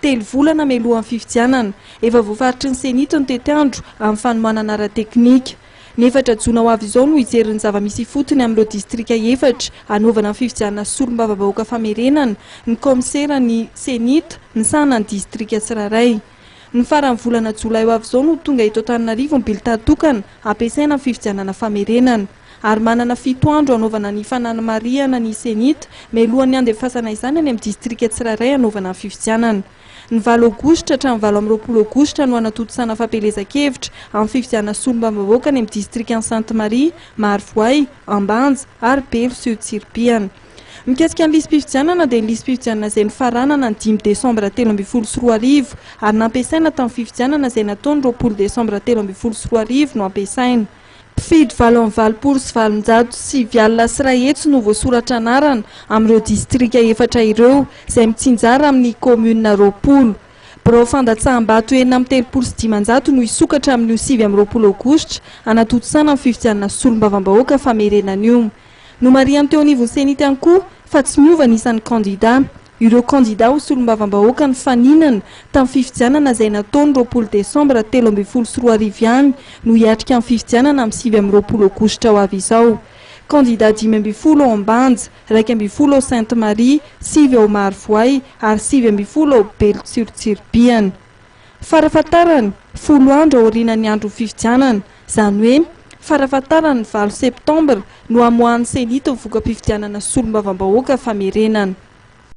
Telo volana mialohan'ny fifidianana, efa voafaritry ny CENI-T ny tetiandro amin'ny fanohanana ara-teknika. Ny efatra jona ho avy izao no hijery ny zava-misy ifotony amin'ireo distrika efatra hanaovana ny fifidianana solombavabahoaka famerenana ny kaomiseran'ny CENI-T misahana ny distrika tsirairay. Ny faran'ny volana jolay ho avy izao no ho tonga eto Antananarivo ny bilità tokana hampiasaina amin'ny fifidianana famerenana. ary manana fito andro hanaovana ny fananamarihana ny CENI-T mialohan'ny handefasana izany any amin'ny distrika tsirairay hanaovana ny fifidianana. Ny valo Aogositra hatramin'ny valo amby roapolo Aogositra no hanatontosana fampielezan-kevitra amin'ny fifidianana solombavambahoaka any amin'ny distrikan'i Sainte Marie, Marovoay, Ambanja ary Belo sy Tsiribihana. Mikasika ny lisi-pifidianana dia ny lisi-pifidianana izay nofaranana ny dimy desambra telo ambin'ny folo sy roa arivo ary nampiasaina tamin'ny fifidianana izay natao ny roapolo desambra telo ambin'ny folo sy roa arivo no ampiasaina. Mpifidy valo amby valopolo sy valonjato sy sivy alina sy iray hetsy no voasoratra anarana amin'ireo distrika efatra ireo izay mitsinjara amin'ny kaominina roapolo. Birao fandatsaham-bato enina amby telopolo sy dimanjato no hisokatra amin'io sivy amby roapolo aogositra hanatontosana ny fifidianana solombavambahoaka famerenana io. Nomarihan'ny teo anivon'ny Cenit ihany koa fa tsy miova ny isan'ny kandida. Ireo kandida ho solombavambahoaka nifaninana tamin'ny fifidianana izay natao ny roapolo desambra telo ambin'ny folo sy roa arivo ihany no hiatrika ny fifidianana amin'ny sivy amby roapolo aogositra ho avy izao. Kandida dimy ambin'ny folo ao Ambanja, iraika ambin'ny folo ao Sainte Marie, sivy ao Marovoay ary sivy ambin'ny folo ao Belo Tsirotsiribihana. Farafahatarany, folo andro aorianan'ny andron'ny fifidianana, izany hoe, farafahatarany ny valo septambra no hamoahan'ny Ceni ny voka-pifidianana solombavambahoaka famerenana.